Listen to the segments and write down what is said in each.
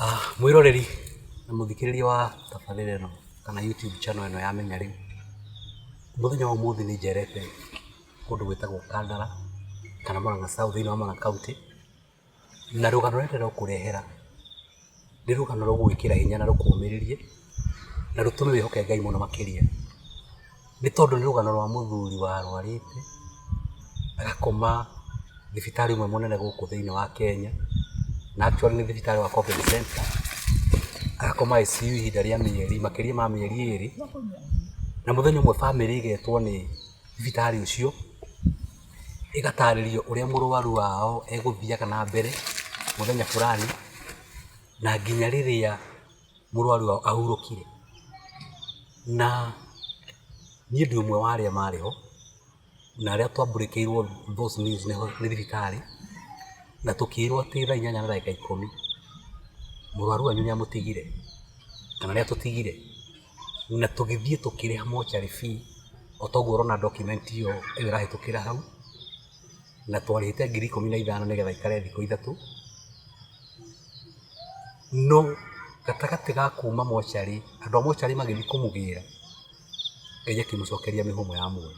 Ah, mwiroreri na muthikiriria wa tabarĩra ĩno kana youtube channel ĩno ya menya rĩu mũthenya wa ũmũthĩ nĩ njerete kũndũ gwĩtagwo kandara kana mũranga south thĩinĩ wa mũranga county Na rũgano rũrĩa ndĩrakũrehera nĩ rũgano rũgũgwĩkĩra hinya na rũkũmĩrĩrie na rũtũme wĩhoke Ngai mũno makĩria. Nĩ tondũ nĩ rũgano rwa mũthuri warwarĩte agakoma thibitarĩ ũmwe mũnene gũkũ thĩinĩ wa Kenya, na actually nĩ thibitarĩ wa Covid Centre. Agakoma ICU ihinda rĩa mĩeri makĩria ma mĩeri ĩrĩ, na mũthenya ũmwe bamĩrĩ ĩgetwo nĩ... thibitarĩ ũcio, ĩgatarĩrio ũrĩa mũrwaru wao egũthiaga na mbere mũthenya fulani na nginya rĩrĩa mũrwaru wao ahurũkire. Na niĩ ndĩ ũmwe wa arĩa marĩ ho na arĩa twambũrĩkĩirwo those news nĩ thibitarĩ na tũkĩrwo atĩ thaa inyanya na ndagĩka ikũmi mũrwaru wanyu nĩ amũtigire kana nĩ atũtigire. na tũgĩthiĩ tũkĩrĩha mortuary fee o ta ũguo ũrona document ĩyo ĩrahĩtũkĩra hau, na twarĩhĩte ngiri ikũmi na ithano nĩ getha ĩikare thikũ ithatũ. No gatagatĩ ga kuma mortuary andũ a mortuary magĩthiĩ kũmũgĩra, Ngai akĩmũcokeria mĩhũmũ ya muoyo.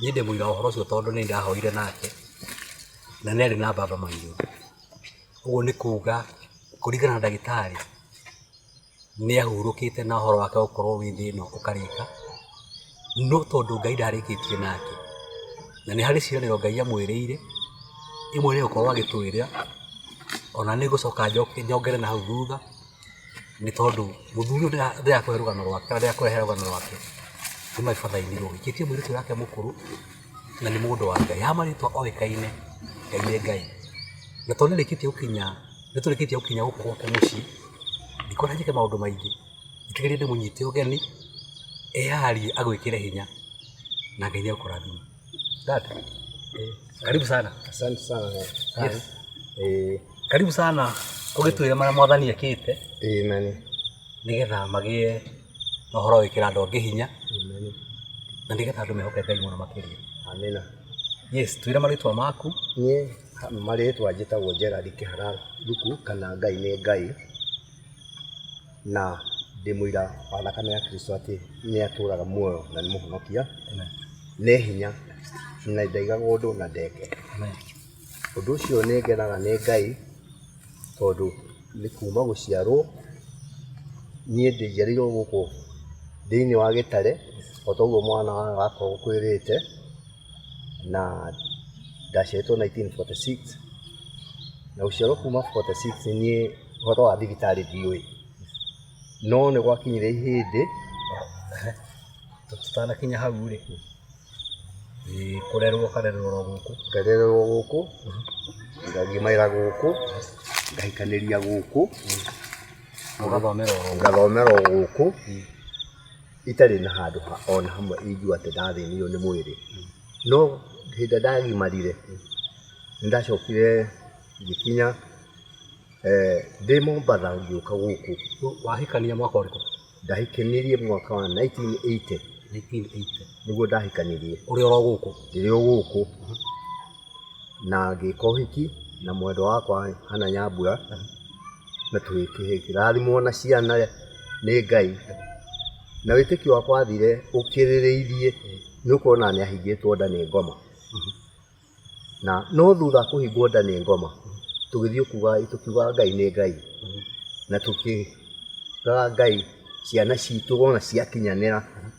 Niĩ ndĩ mũira wa ũhoro ũcio tondũ nĩ ndahoire nake na nĩ arĩ na baba mũirũ. Ũguo nĩ kuga kũringana na ndagĩtarĩ nĩ ahurũkĩte na ũhoro wake gũkorwo wĩ thĩ ĩno ũkarĩka, no tondũ Ngai ndarĩkĩtie nake, na nĩ harĩ ciĩranĩro Ngai amwĩrĩire, imwe nĩ gũkorwo agĩtwĩra, ona nĩ gũcoka njongere na hau thutha, nĩ tondũ mũthuri ũyũ ndĩrakũhe rũgano rwake kana ndĩrakũrehere rũgano rwake nĩ my father in law ti mũirĩtu ũrĩa mũkũrũ na nĩ mũndũ wa Ngai, haha marĩtwa oĩkaine, Ngai nĩ Ngai, na tondũ nĩarĩkĩtie gũkinya... Nĩ tũrĩkĩtie gũkinya gũkũ gwake mũciĩ, ndikuona njĩke maũndũ maingĩ, njĩtĩkĩrie ndĩmũnyite ũgeni, eyarie agwĩkĩre hinya na Ngai nĩ agũkũrathima. Dad, eh, karibu sana. Asante sana. Yes. Eh, Karibu sana ũgĩtwĩre marĩa mwathani ekĩte eh, nani. nĩgetha magĩe na ũhoro wa gwĩkĩra andũ angĩ hinya Nani. na nĩgetha andũ mehoke Ngai mũno makĩria. Amina. Yes, twĩre marĩtwa maku. Niĩ Marĩtwa njĩtagwo Gerald Kĩhara Thuku kana Ngai nĩ Ngai, na ndĩ mũira wa thakame ya Kristo atĩ nĩ atũraga muoyo na nĩ mũhonokia, nĩ hinya na ndaigaga ũndũ na ndeke. Ũndũ ũcio nĩ ngenaga nĩ Ngai tondũ nĩ kuma gũciarwo niĩ njiarĩirwo gũkũ thĩiniĩ wa gĩtare o ta ũguo mwana wa nyina akwĩrĩte. na ndaciarĩtwo 1946 na gũciarwo kuma 46 niĩ ũhoro wa thibitarĩ ndiũĩ no nĩ gwakinyire ihĩndĩ tũtanakinya hau rĩ ĩ, kũrerwo karerwo ro gũkũ ngarererwo gũkũ ngagimagĩra gũkũ ngahikanĩria gũkũ ũgathomera oro gũkũ. ngathomera o gũkũ itarĩ na handũ ha- o na hamwe ingiuga atĩ ndathĩnirio nĩ mwĩrĩ no hĩndĩ ĩrĩa ndagimarire nĩ ndacokire ngĩkinya eh, ndĩ mombatha ngĩũka gũkũ wahikania mwaka ũrĩkũ ndahikanirie mwaka wa 1980 1980 nĩguo ndahikanirie ũrĩ oro gũkũ ndĩrĩ o gũkũ na ngĩka ũhiki na mwendwa wakwa Hannah Nyambura, na tũkĩrathimwo na ciana nĩ Ngai, na wĩtĩkio wakwa wathire ũkĩrĩrĩirie nĩ gũkorwo ona nĩ ahingĩtwo nda nĩ ngoma, na no thutha wa kũhingwo nda nĩ ngoma, tũgĩthiĩ kuga tũkiuga Ngai nĩ Ngai, na tũkĩra Ngai ciana citũ wona ciakinyanĩra,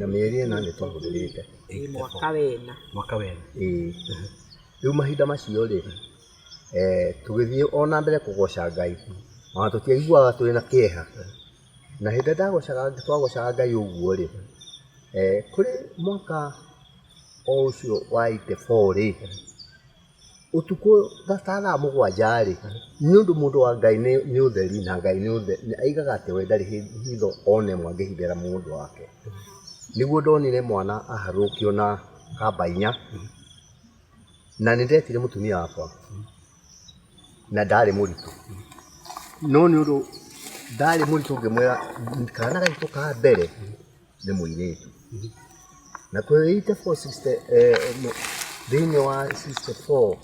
na mĩeri ĩna nĩ twahũthĩrĩte mwaka wena, mwaka wena. Ĩĩ. Rĩu mahinda macio rĩ, tũgĩthiĩ o na mbere kũgoca Ngai, o na tũtiaiguaga twĩ na kĩeha. Na hĩndĩ ĩrĩa twagocaga Ngai ũguo rĩ, kũrĩ mwaka o ũcio wa eighty four rĩ, ũtukũ tha- ta thaa mũgwanja-rĩ nĩ ũndũ mũndũ wa ngai nĩ nĩ ũtheri na ngai nĩ ũtheri aigaga atĩ we ndarĩ hĩ- hitho ona ĩmwe angĩhithĩra mũndũ wake nĩguo ndonire mwana aharũrũkio na kamba inya na nĩ ndetire mũtumia wakwa na ndarĩ mũritũ no nĩ ũndũ ndarĩ mũritũ ngĩmwĩra kana gaitũ ka mbere nĩ mũirĩtu na kwĩ 84 sister, eh, mũ- thĩinĩ wa 64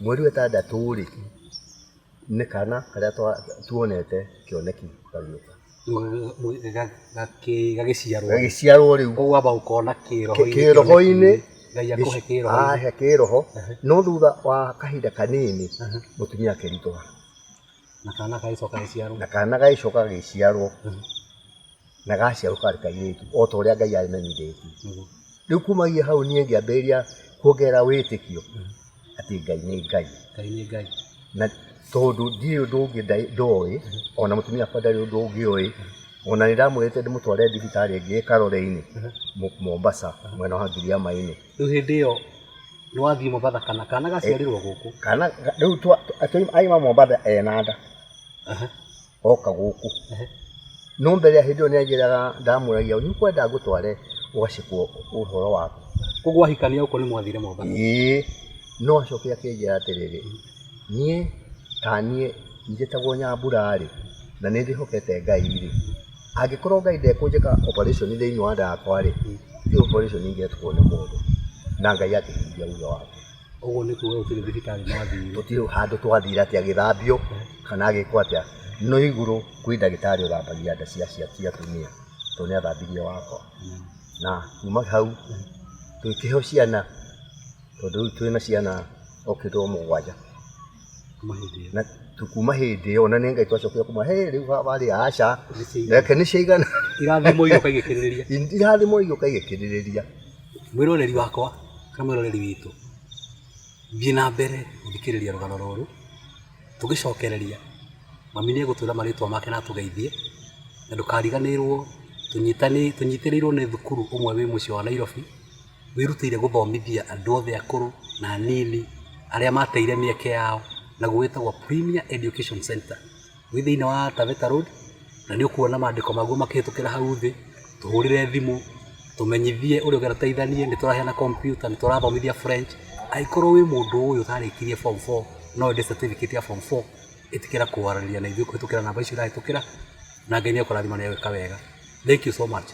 mweri wetandatũ rĩ nĩ kana karĩa twa- tuonete kĩoneki kagĩũka gagĩciarwo gagĩciarwo rĩu koguo wamba ũkona kĩroho-inĩ kĩroho-inĩ ngai akũhe kĩroho ahe kĩroho no thutha wa kahinda kanini mũtumia akĩritũha na kana gagĩcoka gagĩciarwo na kana gagĩcoka gagĩciarwo na gaciarwo karĩ kairĩtu o ta ũrĩa Ngai amenyithĩtie. Mhm. Rĩu kumagia hau niĩ ngĩambĩrĩria kuongerera wĩtĩkio mhm. atĩ Ngai nĩ Ngai. Ngai nĩ Ngai. Na tondũ ndiĩ ũndũ ũngĩ ndoĩ mhm. ona mũtumia akwa ndarĩ ũndũ ũngĩ oĩ ona nĩ ndamwĩrĩte ndĩmũtware thibitarĩ ĩngĩ ĩkarore-inĩ Mombasa mwena wa Ngiriama-inĩ. Rĩu hĩndĩ ĩyo nĩ wathiĩ Mombatha kana kana gaciarirwo gũkũ? Kana rĩu aima Mombatha ena nda oka gũkũ no mbere ya hĩndĩ ĩyo nĩ anjĩraga ndamũragia nĩ ũkwenda ngũtware ũgacekwo ũhoro waku. Koguo ahikania gũkũ nĩ mwathire Mombatha? Ĩĩ no acoke akĩnjĩra atĩrĩrĩ niĩ ta niĩ njĩtagwo Nyambura rĩ na nĩ ndĩhokete Ngai rĩ. Angĩkorwo Ngai ndekũnjĩka operation thĩinĩ wa nda yakwa-rĩ, ĩyo operation ingĩekwo nĩ mũndũ na Ngai akĩhingĩria thutha wakwa. Ũguo nĩ kuga gũtirĩ thibitarĩ mwathire? Gũtirĩ handũ twathire atĩ agĩthambio kana agĩkwo atĩa, no igũrũ kwĩ ndagĩtarĩ ũthambagia nda cia atumia tondũ nĩ athambirie wakwa. Na kuma hau tũkĩheo ciana. Tondũ rĩu twĩna ciana okĩte o mũgwanja na kuma hĩndĩ ĩyo na nĩ ngai twacokia kuma he rĩu warĩ aca reke nĩ ciaigana irathimo igĩũka igĩkĩrĩrĩria irathimo igĩũka igĩkĩrĩrĩria mwĩroreri wakwa kana mwĩroreri witũ thiĩ na mbere gũthikĩrĩria rũgano rũrũ tũgĩcokereria mami nĩ egũtwĩra marĩtwa make na atũgeithie na ndũkariganĩrwo tũnyitĩrĩirwo nĩ thukuru ũmwe wĩ mũciĩ wa Nairobi wĩrutĩire gũthomithia andũ othe akũrũ na anini arĩa mateire mĩeke yao, naguo wĩtagwo Premier Education Centre. Wĩ thĩiniĩ wa Taveta Road, na nĩ ũkuona mandĩko maguo makĩhĩtũkĩra hau thĩ, tũhũrĩre thimũ, tũmenyithie ũrĩa ũngĩenda tũteithanie, nĩ tũraheana kompiuta, nĩ tũrathomithia French. Angĩkorwo wĩ mũndũ ũĩ ũtarĩkirie form four no wende certificate ya form four, ĩtĩkĩra kũaranĩria na ithuĩ kũhĩtũkĩra namba icio irahĩtũkĩra, na Ngai nĩ ekũrathima na wĩke wega. Thengiũ so maci.